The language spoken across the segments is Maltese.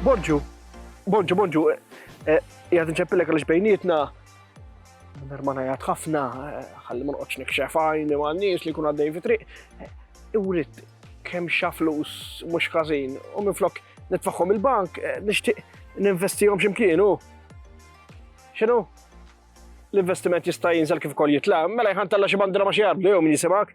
Borġu, Borġu, Borġu, eh, jgħad nċeppilek għalix bejnietna, Nermana jgħad ħafna, eh, ħalli ma noqgħodx nikxef għajni ma' nies li kun għaddej fi triq. Eh, iwrit kemm xa flus mhux każin u minflok nitfaħħom il-bank nixtieq ninvestihom x'imkien u. X'inhu? L-investiment jista' jinżel kif ukoll jitla', mela jħan talla xi bandra ma xi jarbdu jew min jisimak.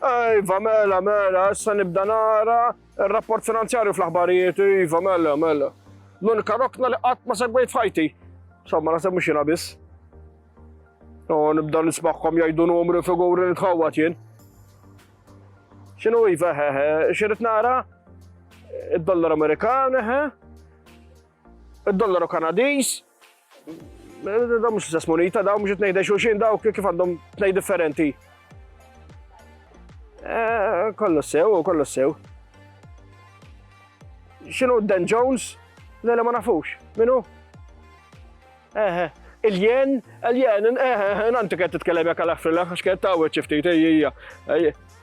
Iva, mela, mela, issa nibda nara il-rapport finanzjarju fl-aħbarijiet, iva, mela, mela. L-unika rokna li qatt ma segwejt fajti. Somma, nasib mux jina biss. U nibda nismaħkom jajdu numri figuri nitħawat jien. Xinu iva, hehe, xirrit nara? Id-dollar Amerikan, hehe. Id-dollaru Kanadis, Da mux l-istess munita, da mux t-nejde xuxin, da kif għandhom t-nej differenti. Eh, kollu sew, kollu sew. Xinu Dan Jones? Le, le ma nafux. Minu? Eħe. Eh. Il-jen, il-jen, eħe, eh, nanti kħed t-tkellem jak għal-affrilla, xkħed ta' u ċiftit, ejja.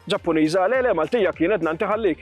Ġappuniza, le, le, maltija kienet nanti ħallik.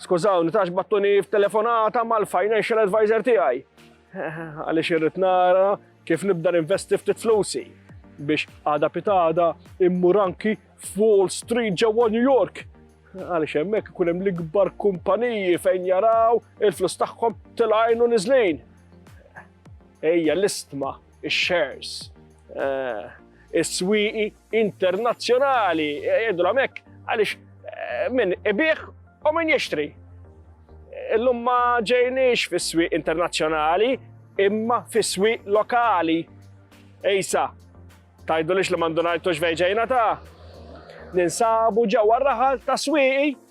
Skużawni, tax battuni f'telefonata mal-financial advisor tiegħi. Għaliex irrid nara kif nibda ninvesti ftit flusi biex għada pitada immur anki f'Wall Street ġewwa New York. Għaliex hemmhekk ikun hemm l-ikbar kumpaniji fejn jaraw il-flus tagħhom tilgħajnu niżlin. Ejja l-istma ix-shares, eh, is-swieqi internazzjonali, jgħidu l-għamek, għalix eh, minn ibiħ u minn jixtri. Illum ma ġejniex fis-swieq internazzjonali, imma fis-swieq lokali. Ejsa, tajdu lix li mandunajtux vejġejna ta' ninsabu ġewwa raħal ta' swieqi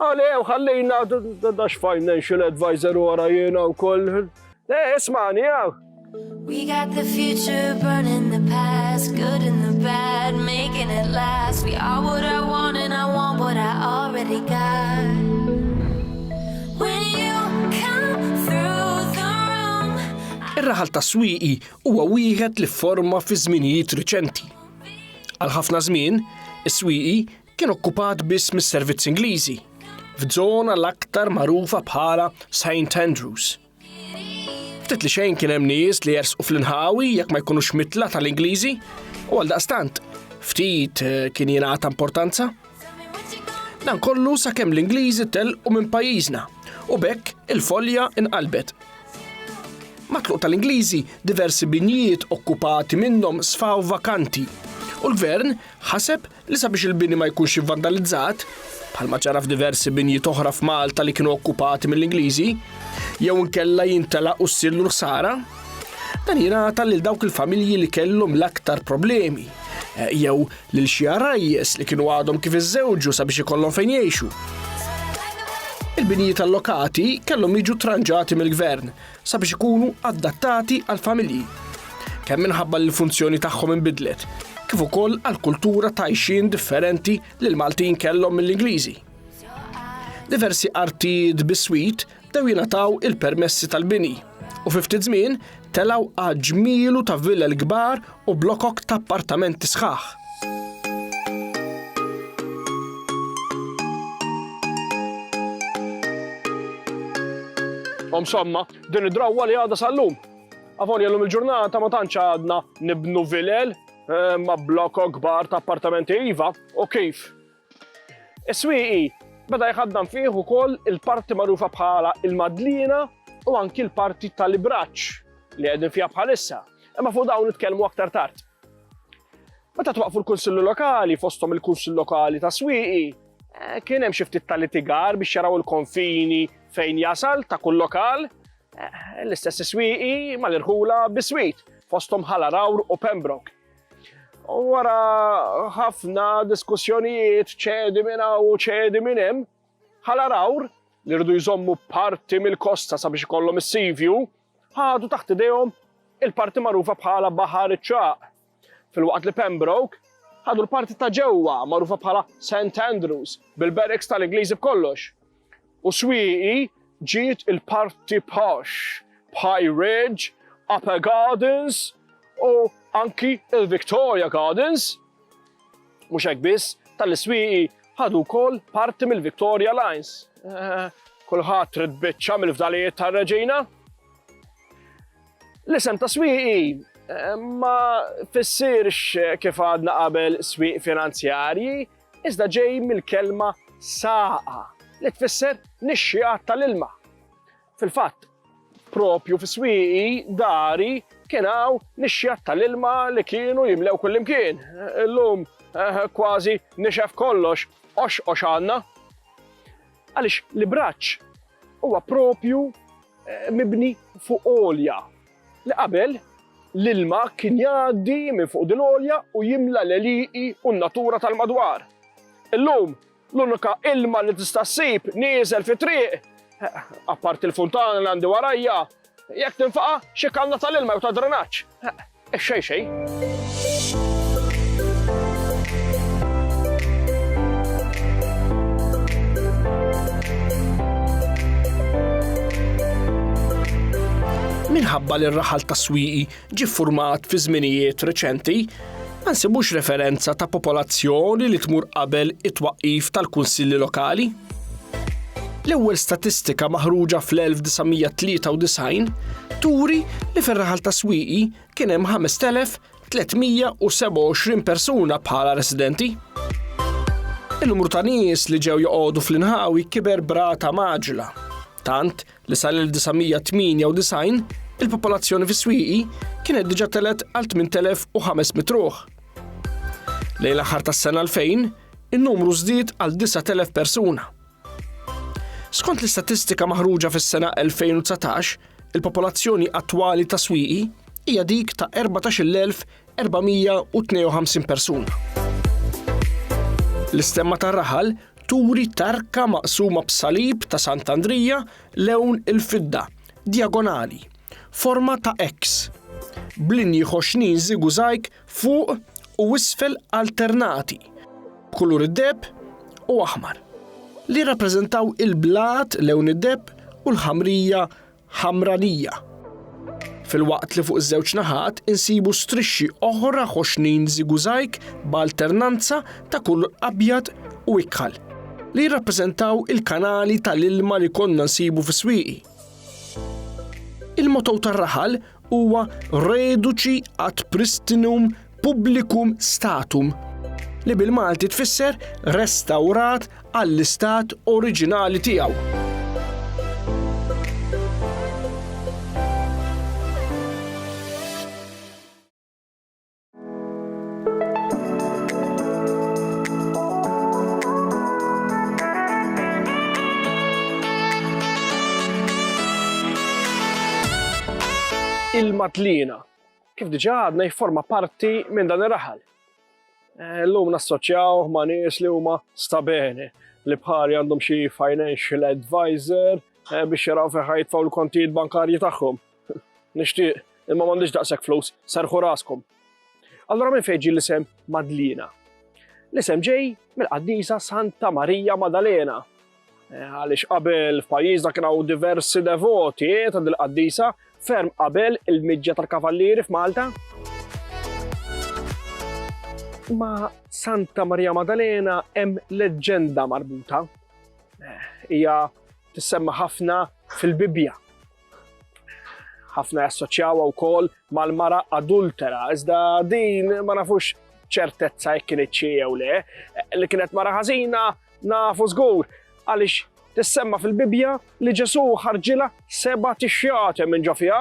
Għaliew ħallina dax financial advisor wara jiena wkoll. Le, ismani hawn. We got the future burning the past, good and the bad, making it last. We are what I want and I want what I already got. Ir-raħal ta' Swieqi huwa wieħed li forma fi żminijiet riċenti. Għal ħafna żmien, is-Swieqi kien okkupat biss mis-servizzi Ingliżi f'żona l-aktar magħrufa bħala St. Andrews. Ftit li xejn kien hemm nies li jersqu fl-inħawi jekk ma jkunux mitla tal-Ingliżi u għal daqstant ftit eh, kien jingħata importanza. Dan kollu sakemm l-Ingliżi telqu minn pajjiżna u bekk il-folja inqalbet. Matluq tal-Ingliżi diversi binjiet okkupati minnhom sfaw vakanti u l-gvern ħaseb li sabiex il-bini ma jkunx ivvandalizzat, bħalma ġara f'diversi binjiet oħra f'Malta li kienu okkupati mill-Ingliżi, jew inkella jintelaq u ssirlu l-ħsara, dan jingħata lil dawk il-familji li kellhom l-aktar problemi, eh, jew lil xi għarajjes li kienu għadhom kif iżżewġu sabiex ikollhom fejn jgħixu. Il-binijiet allokati kellhom jiġu tranġati mill-gvern sabiex ikunu adattati għall-familji, kemm minħabba li l-funzjoni tagħhom inbidlet, kif ukoll għall-kultura ta' għajxien differenti li l-Maltin kellhom mill-Ingliżi. Diversi artijiet biswit dew jingħataw il-permessi tal-bini u fi ftit żmien telgħu għaġmielu ta' villel kbar u blokok ta' appartamenti sħaħ. Insomma, din id-drawwa li għadha sal-lum. Avolja l-lum il-ġurnata ma tantx għadna nibnu vilel eh, ma blokok kbar ta' appartamenti iva u kif Is-Swieqi beda jħaddan fih ukoll il-parti magħrufa bħala l-Madliena u anki l-parti tal-Ibraċċ li qegħdin fiha bħalissa, imma fuq dawn nitkellmu aktar tard. Meta twaqqfu l-Kunsilli Lokali, fosthom il-Kunsill Lokali ta' Swieqi, eh, kien hemm xi ftit ta' litigar biex jaraw il-konfini fejn jasal ta' kull lokal, eh, l-istess Swieqi mal-irħula biswit, fosthom ħala Rawr u Pembroke. U wara ħafna diskussjonijiet ċedi minn hawn u ċedi minn hemm, ħala rawr li rridu jżommu parti mill-kosta sabiex ikollhom is-sivju, ħadu taħt idejhom il-parti magħrufa bħala Baħar iċ-Ċaq. Fil-waqt li Pembroke ħadu l-parti ta' ġewwa magħrufa bħala St. Andrews bil-barracks tal-Ingliżi b'kollox. U swieqi ġiet il-parti posh bħaj Ridge, Upper Gardens u anki il-Victoria Gardens. Mhux hekk biss, tal-iswieqi ħadu wkoll parti mill-Victoria Lines. Eh, kulħadd trid biċċa mill-fdalijiet tar-reġina. L-isem ta' swieqi eh, ma fissirx kif għadna qabel swieq finanzjarji, iżda ġej mill-kelma saqa, li tfisser nixxiegħat tal-ilma. Fil-fatt, propju fi swieqi dari kien hawn nixxiegħat tal-ilma li kienu jimlew kullimkien. Illum eh, kważi nixef kollox, oxqox għandna. Għaliex li braċ huwa propju eh, mibni fuq olja, Li qabel, l-ilma kien jgħaddi minn fuq din għolja u jimla l-għelieqi u n-natura tal-madwar. Illum, l-unika ilma li tista' ssib nieżel fit-triq, apparti l-funtana li għandi warajja, jekk tinfaqa' xi kanna tal-ilma jew tad-drenaġġ. Ix-xejn xejn. minħabba li r-raħal ta' swieqi ġi format fi żminijiet reċenti, ma nsibux referenza ta' popolazzjoni li tmur qabel it-twaqif tal-kunsilli lokali. L-ewwel statistika maħruġa fl-1993 turi li fir-raħal ta' swieqi kien hemm 5,327 persuna bħala residenti. In-numru ta' nies li ġew joqogħdu fl-inħawi kiber brata maġla, tant li sal-1998 il-popolazzjoni fis-swieqi kienet diġà telet għal 8,500 ruħ. Lejn l-aħħar tas-sena 2000, in-numru żdied għal 9,000 persuna. Skont l-istatistika maħruġa fis-sena 2019, il-popolazzjoni attwali ta' Swieqi hija dik ta' 14,452 persuna. L-istemma tar-raħal turi tarka maqsuma b'salib ta' Sant'Andrija lewn il-fidda, dijagonali, forma ta' X, b'linji ħoxnin żigużajk fuq u isfel alternati, b'kulur id-deheb u aħmar, li jirrappreżentaw il-blat lewn id-deheb u l-ħamrija ħamranija, filwaqt li fuq iż-żewġ naħat insibu strixxi oħra ħoxnin zigużajg b'alternanza ta' kulur abjad u ikħal, li jirrappreżentaw il-kanali tal-ilma li konna nsibu fis-swieqi. Il-motto tar-raħal huwa Reduci ad pristinum publicum statum, li bil-Malti tfisser restawrat għall-istat oriġinali tiegħu. il-Matlina. Kif diġa għadna jifforma parti minn dan ir-raħal. Eh, l-lum nassoċjaw ma' nies li huma stabeni li bħari għandhom xi financial advisor eh, biex jaraw fejn ħajtfaw l-kontijiet bankarji tagħhom. Nixtieq, imma m'għandix daqshekk flus, serħu raskom. Allura minn fejn ġie l-isem Madlina? L-isem ġej mill-qaddisa Santa Marija Madalena. Eh, għaliex qabel f'pajjiżna kien hawn diversi devoti eh, ta' dil-qaddisa ferm qabel il-miġja tal-kavallieri f'Malta. Ma Santa Marija Madalena hemm leġġenda marbuta. Eh, hija tissemma ħafna fil-Bibbja ħafna jassoċjawha wkoll mal-mara adultera, iżda din ma nafux ċertezza jekk kienet xi jew le, li kienet mara ħażina nafu żgur għaliex tissemma fil-Bibja li Ġesu ħarġila seba' tixjate minn ġo fiha,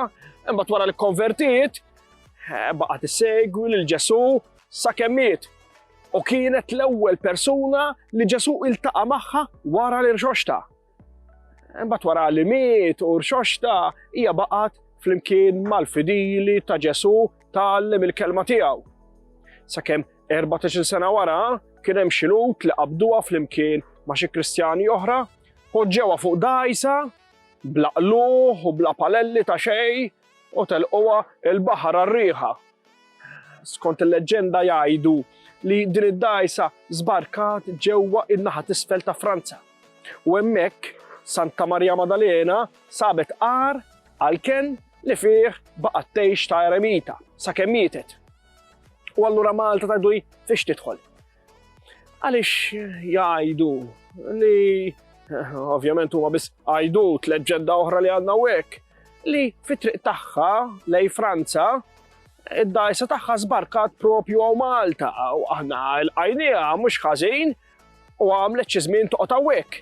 imbagħad wara li konvertiet eh, baqa' tissegwi lil Ġesu sa kemmiet u kienet l-ewwel persuna li Ġesu iltaqa' magħha wara l-irxoxta. Imbagħad wara li miet u rxoxta hija baqgħet flimkien mal-fidili ta' Ġesu tgħallem il-kelma tiegħu. Sakemm 14 sena wara kien hemm xi lut li qabduha flimkien ma' xi Kristjani oħra, poġġewha fuq dajsa bla qluħ u bla palelli ta' xejn u telquha l-baħar għar-riħa. Skont il-leġġenda jgħidu li din id-dgħajsa żbarkat ġewwa n-naħa t'isfel ta' Franza u hemmhekk Santa Marija Maddalena sabet għar għall-kenn li fih baqgħet tgħix ta' eremita sakemm mietet. U allura Malta tgħidu hi fiex tidħol. Għaliex jgħidu li ovvjament huma biss għajdu tleġġenda oħra li għandna hekk li fit-triq tagħha lej Franza id-dajsa tagħha żbarkat propju għaw Malta u aħna l-għajnija mhux ħażin u għamlet xi żmien toqgħod hawnhekk.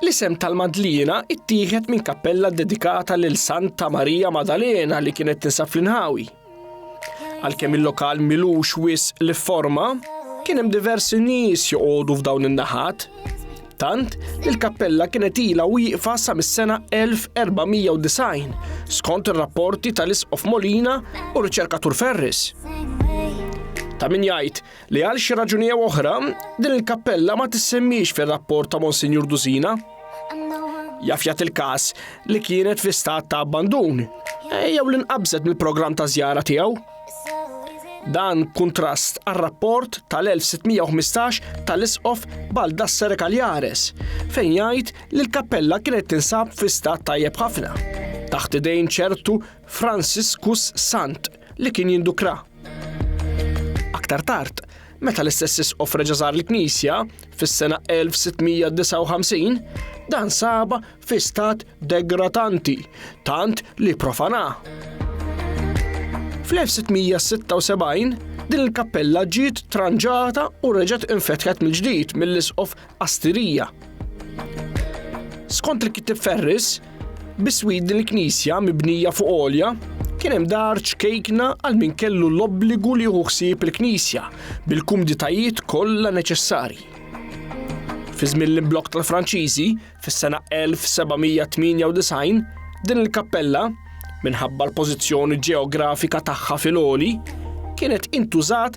L-isem tal-Madliena ttieħed minn kappella ddedikata lil Santa Marija Madalena li kienet tinsab fl-inħawi. Għalkemm il-lokal milux wis li forma, kien hemm diversi nies joqogħdu f'dawn in-naħat. Tant li l-kappella kienet ilha wieqfa sa mis-sena 1490 skont ir-rapporti tal-Isqof Molina u riċerkatur Ferris. Ta' min jgħid li għal xi raġuni jew oħra din il-kappella ma tissemmix fir-rapport ta' Monsinjur Dusina. Jaf jagħti il-każ li kienet fi stat ta' abbandun eh, jew li nqabżet mill-programm ta' żjara tiegħu. Dan kontrast għal-rapport tal-1615 tal-isqof Baldassare Kaljares fejn jgħid li l-kappella kienet tinsab fi stat tajjeb ħafna taħt idejn ċertu Franciscus Sant li kien jindukra. Aktar tard, meta l-istess isqof reġa' żar il-knisja fis-sena 1659, dan saba fi stat degratanti tant li profana. Fl-1676 din il-kappella ġiet tranġata u reġgħet infetħet mill-ġdid mill-isqof Astirija. Skont il-Kittieb Ferris, biswid din il-knisja mibnija fuq għolja kien hemm dar ċkejkna għal min kellu l-obbligu li jieħu ħsieb il-knisja bil-kumditajiet kollha neċessarji. Fi żmien l-imblok tal-Franċiżi, fis-sena 1798, din il-kappella, minħabba l-pożizzjoni ġeografika tagħha fil-oli, kienet intużat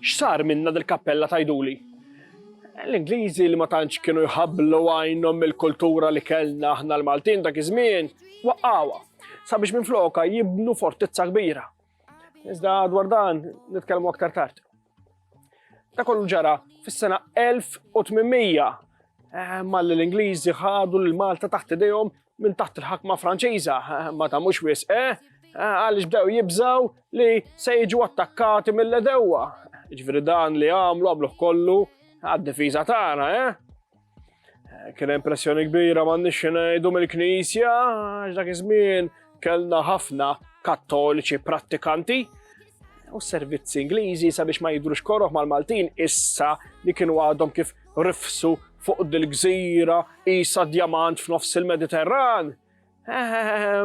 X'sar minnha dil-kappella tgħiduli? L-Ingliżi li ma tantx kienu jħabblu għajnhom mill-kultura li kellna aħna l-Maltin dak iż-żmien, waqqgħuha sabiex minflokha jibnu fortizza kbira. Iżda dwar dan nitkellmu aktar tard. Da kollu ġara fis-sena 1800 eh, malli l-Ingliżi ħadu l Malta taħt idejhom minn taħt il-ħakma Franċiża ma tagħmux wisq, eh? eh? għaliex bdew jibżaw li se jiġu attakkati mill-edewwa. Ġifieri dan li għamlu għamluh kollu għad-difiża tagħna, eh? eh kien impressjoni kbira m'għandniex ngħidu mill-Knisja, għax dak iż-żmien kellna ħafna kattoliċi prattikanti u servizzi Ingliżi sabiex ma jidrux koroħ mal-Maltin issa li kienu għadhom kif rifsu Fuq dil-gżira qisha djamant f'nofs il-Mediterran,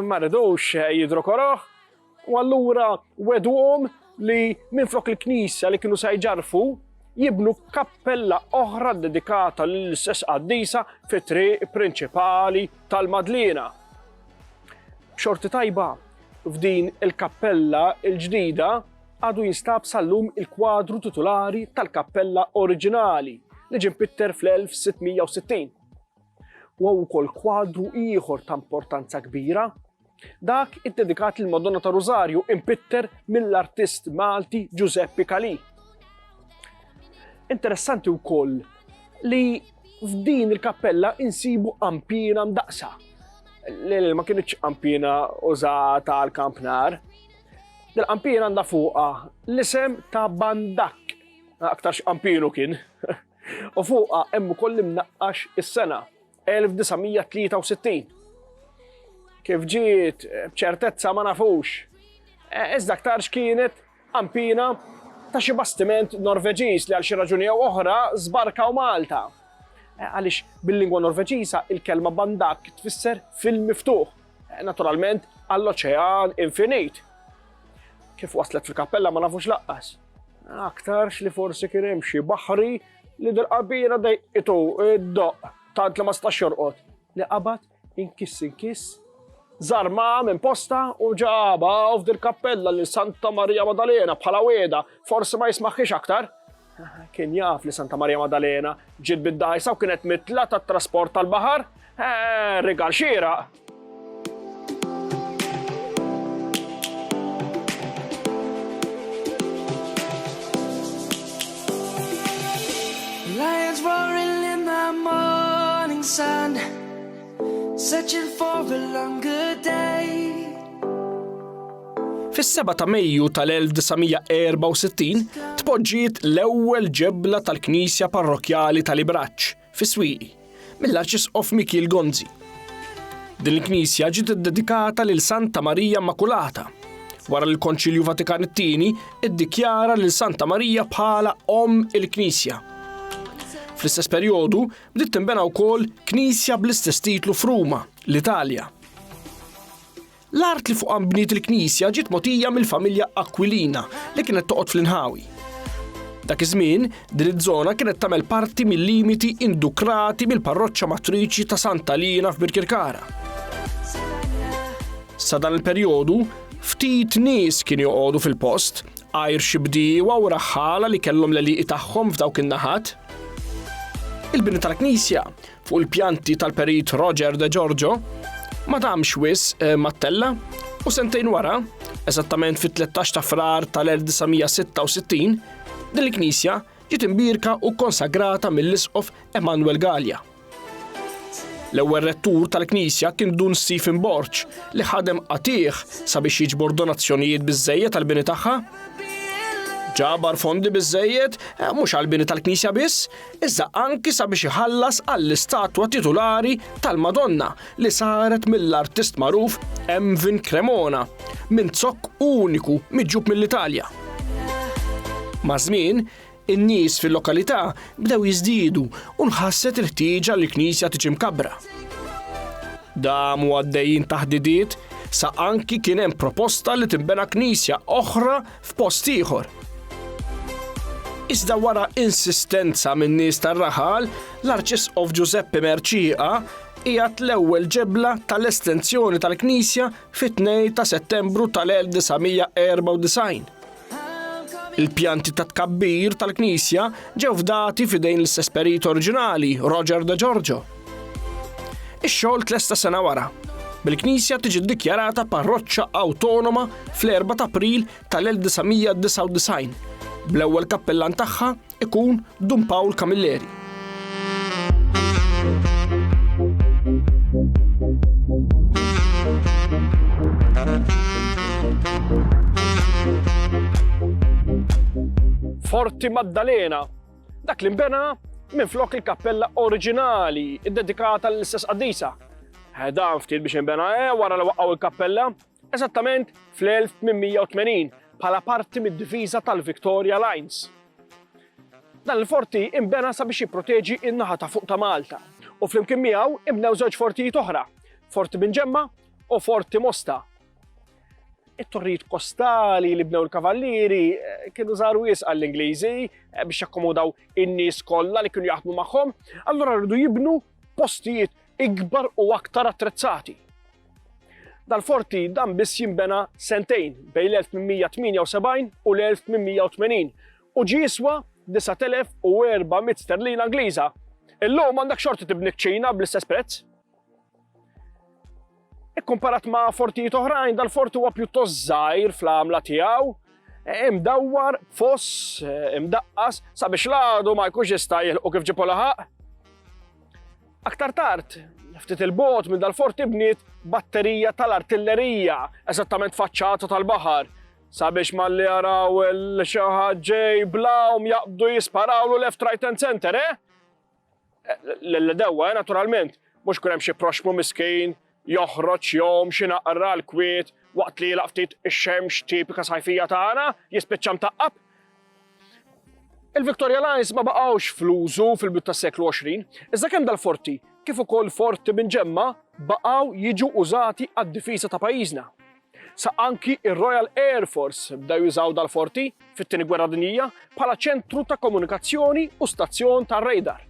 ma ridux jidhru koroh, u allura wedwhom li minflok il-knisja li kienu se jġarrfu, jibnu kappella oħra ddedikata lill-istess qaddisa fit-triq prinċipali tal-Madliena. B'xorti tajba, f'din il-kappella l-ġdida, Għadu jinstab sal-lum il-kwadru titulari tal-kappella oriġinali li ġie mpitter fl-1660. Huwa wkoll kwadru ieħor ta' importanza kbira, dak iddedikat lil Madonna ta' Rużarju impitter mill-artist Malti Giuseppe Calì. Interessanti wkoll li f'din il-kappella insibu qampina mdaqsa li ma kienx qampina użata għal kampnar. Dil-qampin għandha fuqha l-isem ta' Bandak. Aktarx qampinu kien. U fuqha hemm ukoll imnaqqax is-sena 1963. Kif ġiet b'ċertezza ma nafux. E, iżda aktarx kienet qampina ta' xi bastiment Norveġiż li għal xi raġuni jew oħra żbarkaw Malta. E, għaliex bil-lingwa Norveġiża il-kelma bandak tfisser fil-miftuħ Naturalment, għall-oċean infinit. Kif waslet fil-kappella ma nafux laqqas. Aktarx li forsi kien hemm xi baħri li dil-qabira dejqitu id-doq tant li ma stax jorqod. Li qabad inkiss inkiss zarma minn posta u ġaba u f'dil kappella li Santa Marija Madalena bħala weda forsi ma jismaħħiex aktar. Kien jaf li Santa Marija Madalena ġiet bid-dajsa u kienet mitla tat-trasport tal-baħar? Eh, rigal xieraq! sun, searching for a longer day. Fis-7 ta' Mejju tal-1964 tpoġġiet l-ewwel ġebla tal-Knisja Parrokkjali tal-Ibraċċ fi Swieqi mill-Arċisqof Mikiel Gonzi. Din il-knisja ġiet iddedikata lil Santa Marija Immakulata. Wara li l-Konċilju Vatikan it-Tieni iddikjara lil Santa Marija bħala Omm il-Knisja. Fl-istess perjodu bdiet tinbena wkoll knisja bl-istess titlu f'Ruma, l-Italja. L-art li fuqha nbniet il-knisja ġiet mogħtija mill-familja Aquilina li kienet toqgħod fl-inħawi. Dak iż-żmien, din iż-żona kienet tagħmel parti mil-limiti indukrati mill-parroċċa matriċi ta' Santa Liena f'Birkirkara. Sa dan il-perjodu, ftit nies kienu joqogħdu fil-post, għajr xi bdiewa u raħħala li kellhom l-eliqi tagħhom f'dawk in-naħat. Il-bini tal-knisja Fuq il-pjanti tal-perit Roger De Giorgio, ma damx wis eh, mattella u sentejn wara, eżattament fit-13 ta' frar tal-1966, din il-knisja ġiet imbirka u konsagrata mill-isqof Emanuel Gallia. L-ewwel rettur tal-Knisja kien Dun Stephen Borċ li ħadem qatih sabiex jiġbor donazzjonijiet biżejjed tal-bini tagħha. Ġabar fondi biżejjed eh, mhux għall-bini tal-Knisja biss, iżda anki sabiex iħallas għall-istatwa titulari tal-Madonna li saret mill-artist magħruf Emvin Cremona minn zokk uniku miġjub mill-Italja. Maż-żmien, in-nies fil-lokalità bdew jiżdiedu u nħasset il-ħtieġa li l-knisja tiġi mkabbra. Damu għaddejjin taħdidiet sa anki kien hemm proposta li tinbena knisja oħra f'post ieħor. Iżda wara insistenza min-nies tar-raħal, l-Arċisqof Ġużeppi Mercieqa qiegħed l-ewwel ġebla tal-estensjoni tal-knisja fit-2 ta' Settembru tal-1994. Il-pjanti ta' tkabbir tal-knisja ġew fdati f'idejn l-istess perit oriġinali, Roger De Giorgio. Ix-xogħol tlesta sena wara, bil-Knisja tiġi ddikjarata parroċċa awtonoma fl-4 ta' April tal-1999, bl-ewwel kappellan tagħha ikun Dun Pawl Camilleri. Forti Maddalena Dak li nbena minflok il-kappella oriġinali, iddedikata l-istess qaddisa. Eh, dan ftit biex inbena eh, wara li waqgħu il-kappella, eżattament fl-1880 bħala parti mid-diviża tal-Victoria Lines. Dan il-forti imbena sabiex jipproteġi in-naħa ta' fuq ta' Malta u flimkien miegħu imbnew żewġ fortijiet oħra, Forti Binġemma u Forti Mosta. It-torrijiet kostali li bnew il-kavallieri eh, kienu żaru jis għall-Ingliżi eh, biex jakkomodaw in-nies kollha li kienu jaħdmu magħhom, allura rridu jibnu postijiet ikbar u aktar attrezzati. Dal-forti dan biss jimbena sentejn bej l-1878 u l-1880 u ġiswa 9400 sterlina Ingliża. Illum għandek xorti tibni ċina bl-istess prezz. Ikkumparat ma' fortijiet oħrajn, dal-fort huwa pjuttost żgħir fl-għamla tiegħu, imdawwar, foss, imdaqqas, sabiex l-għadu ma jkunx jista' jilqu kif ġipu laħaq. Aktar tard, ftit il-bot minn dal-fort ibniet batterija tal-artillerija, eżattament faċċata tal-baħar, sabiex ma li jaraw l-xaħġej blawm jaqbdu jisparawlu left, right and center, eh? L-dewwa, eh, naturalment, mhux kun hemm xi proxmu miskin joħroġ jom xi naqra l-kwiet waqt li jilaq ftit ix-xemx tipika sajfija tagħna jispiċċa mtaqqab. Il-Victoria Lines ma baqgħux fl-użu fil-bit tas-seklu 20, iżda kemm dal-forti kif ukoll forti minn ġemma baqgħu jiġu użati għad-difiża ta' pajjiżna. sa anki r-Royal Air Force bdew jużaw dal-forti fit-Tieni Gwerra Dinjija bħala ċentru ta' komunikazzjoni u stazzjon tar-radar.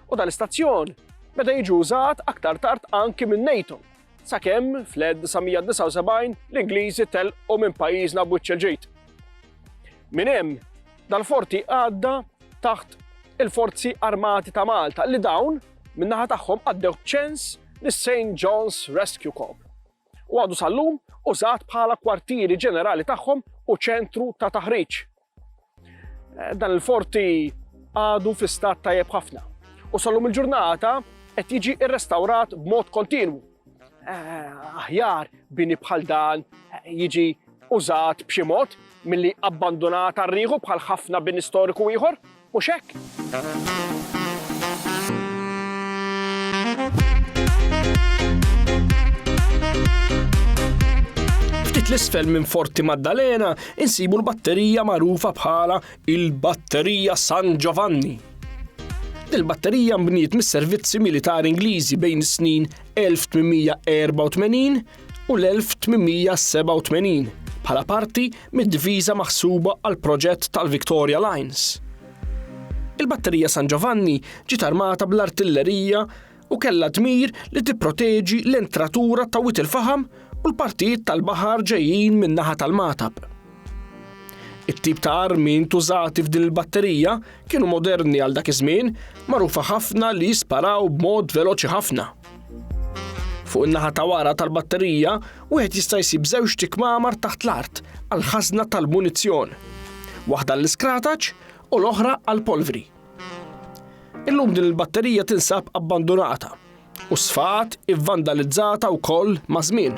U dal-istazzjon beda jiġi użat aktar tard anki min-NATO, sakemm fl-1979 l-Ingliżi telqu minn pajjiżna b'wiċċ il-ġid. Minn hemm dal-forti għadda taħt il-Forzi Armati ta' Malta li dawn min-naħa tagħhom għaddew b'ċens lis-St. John's Rescue Corps. u għadu sal-lum użat bħala kwartieri ġenerali tagħhom u ċentru ta' taħriġ. Eh, dan il-forti għadu fi stat tajjeb ħafna u sal-lum il-ġurnata qed jiġi rrestawrat b'mod kontinwu. Eh, aħjar bini bħal dan eh, jiġi użat b'xi mod milli abbandonat għarriħu bħal ħafna bin istoriku ieħor. Mhux hekk? Ftit l-isfel minn Forti Maddalena insibu l-batterija magħrufa bħala il-Batterija San Giovanni. Dil-batterija mbniet mis-servizzi militari Ingliżi bejn is-snin 1884 u l-1887 bħala parti mid-diviża maħsuba għall-proġett tal-Victoria Lines. Il-Batterija San Giovanni ġiet armata bl-artillerija u kellha dmir li tipproteġi l-entratura ta' wit il-faħam u l-partijiet tal-baħar ġejjin min-naħa tal-Matab. It-tip ta' armi ntużati f'din il-batterija kienu moderni għal dak iż-żmien, magħrufa ħafna li jisparaw b'mod veloċi ħafna. Fuq in-naħa ta' wara tal-batterija, wieħed jista' jsib żewġ tikmamar taħt l-art għal ħażna tal-munizzjon, waħda l-iskrataċ u l-oħra għall-polvri. Illum din il-batterija tinsab abbandunata u sfaqat ivvandalizzata wkoll maż-żmien.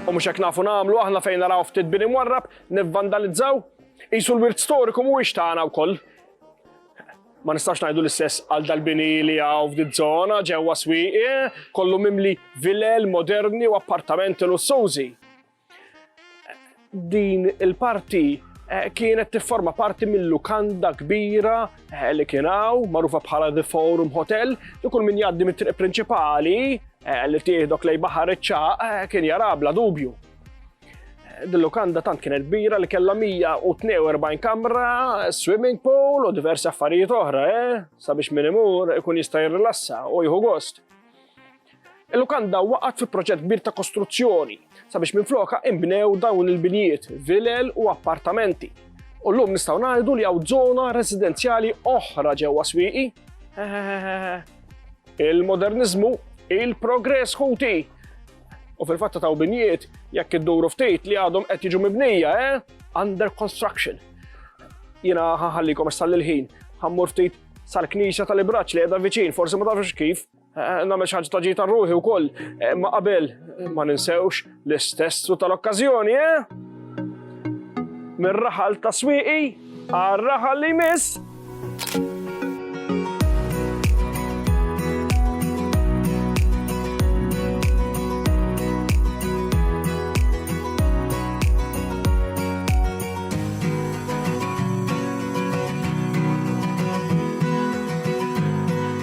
U mhux hekk nafu nagħmlu aħna fejn naraw ftit bini mwarrab nivvandalizzaw? Qisu l-wirt storiku mhuwiex tagħna wkoll. Ma nistax ngħidu l-istess għal dal-bini li hawn f'din żona ġewwa swieqi, kollu mimli vilel moderni u appartamenti lussużi. Din il-parti eh, kienet tifforma parti mill-lukanda kbira eh, li kien hawn, magħrufa bħala The Forum Hotel, li kull min jgħaddi mit-triq prinċipali eh, li tieħdok lej baħar iċ-ċaq kien jara bla dubju. Dil-lukanda tant kienet kbira li kellha 142 kamra, swimming pool u diversi affarijiet oħra, eh? sabiex min imur ikun jista' jirrilassa u jieħu gost. Il-lukanda waqgħet fi proġett kbir ta' kostruzzjoni sabiex minflokha inbnew dawn il-binjiet, vilel u appartamenti. U llum nistgħu ngħidu li hawn żona residenzjali oħra ġewwa Swieqi. Il-moderniżmu, il-progress ħuti! U fil-fatt taw binjiet jekk idduru ftit li għadhom qed jiġu mibnija, eh? Under construction. Jiena ħaħallikom issa l-ħin, ħammur ftit sal-knisja tal-ibraċ li qiegħda viċin, forsi ma tafx kif, Eh, Namel xaġ ta' ġita ruħi u koll, eh, ma qabel eh, ma ninsewx l-istessu tal-okkazjoni, eh? Mir-raħal ta' swiqi, għal-raħal li miss.